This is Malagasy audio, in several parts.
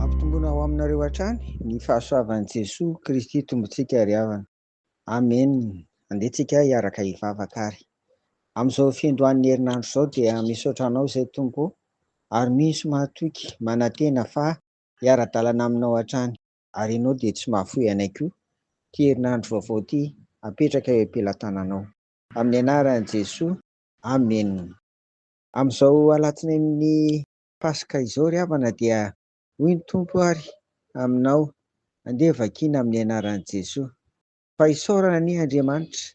Ampitomboina ho aminareo hatrany ny fahasoavan'i Jesoa Kristy Tompontsika ry havana. Amen! Andeha tsika hiaraka hivavaka ary. Amin'izao fiandohan'ny herinandro izao dia misaotra Anao izay Tompo o, ary misy mahatoky manantena fa hiara-dalana Aminao hatrany, ary Ianao dia tsy mahafoy anay koa ity herinandro vaovao ity apetraka eo am-pelatananao. Amin'ny anaran'i Jesoa Amen. Amin'izao alatsinain'ny Paska izao ry havana dia hoy ny Tompo ary aminao, andeha vakiana amin'ny anaran'i Jesoa. Fa isaorana anie Andriamanitra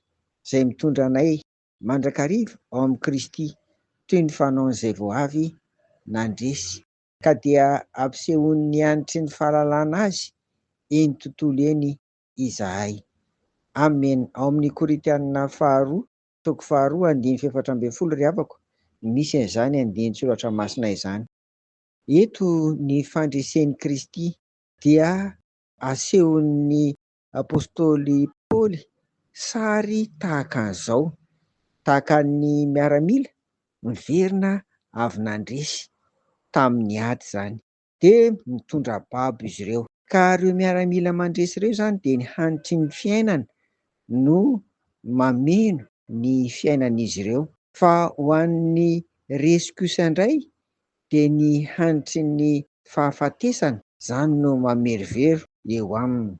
izay mitondra anay mandrakariva ao amin'i Kristy toy ny fanaon'izay vao avy nandresy. Ka dia ampisehoan'ny hanitry ny fahalalana azy eny tontolo eny izahay. Amen. Ao amin'ny Korintiana faharoa Toko faharoa andininy fahefatra ambin'ny folo ry havako, misy an'izany andinin-tsoratra masina izany. Eto ny fandresen'i Kristy dia asehon'ny apostoly Paoly sary tahaka an'izao, tahaka ny miaramila miverina avy nandresy tamin'ny ady izany. dia mitondra babo izy ireo. Ka ireo miaramila mandresy ireo izany dia ny hanitry ny fiainana no mameno ny fiainan'izy ireo. Fa ho an'ny resy kosa indray dia ny hanitry ny fahafatesana izany no mamerovero eo aminy.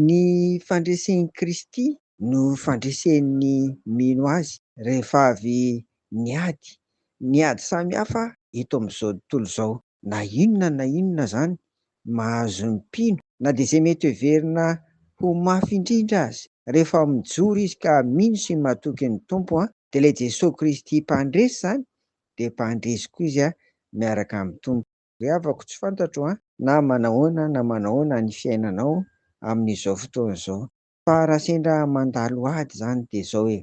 Ny fandresen'i Kristy no fandresen'ny mino Azy rehefa avy niady Ny ady samy hafa eto amin'izao tontolo izao, na inona na inona izany mahazo ny mpino, na dia izay mety heverina ho mafy indrindra aza, rehefa mijoro izy ka mino sy matoky ny Tompo, dia ilay Jesoa Kristy mpandresy izany, dia mpandresy koa izy miaraka amin'ny Tompo. Ry havako tsy fantatro na manahoana na manahoana ny fiainanao amin'izao fotoana izao, Fa raha sendra mandalo ady izany dia izao e,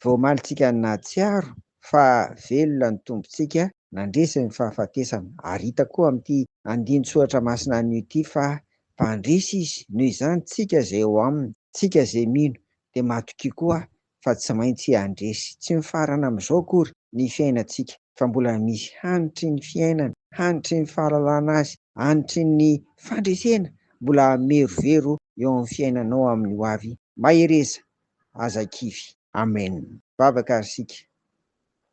vao omaly tsika nahatsiaro fa velona ny Tompontsika nandresy ny fahafatesana, ary hita koa amin'ity andinin-tsoratra masina anio ity fa mpandresy Izy, noho izany tsika izay ao Aminy, tsika izay mino dia matokia koa fa tsy maintsy handresy tsy mifarana amin'izao akory ny fiainantsika fa mbola misy hanitry ny fiainana, hanitry ny fahalalana azy, hanitry ny fandresena mbola merovero eo amin'ny fiainanao amin'ny ho avy, mahereza, aza kivy. Amen! Vavaka ary isika.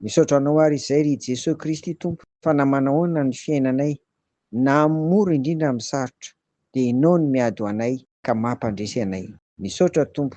Misaotra Anao ary izay ry Jesoa Kristy Tompo fa na manahoana ny fiainanay na amin'ny mora indrindra amin'ny sarotra dia Ianao no miady ho anay ka mampandresy anay. Misaotra Tompo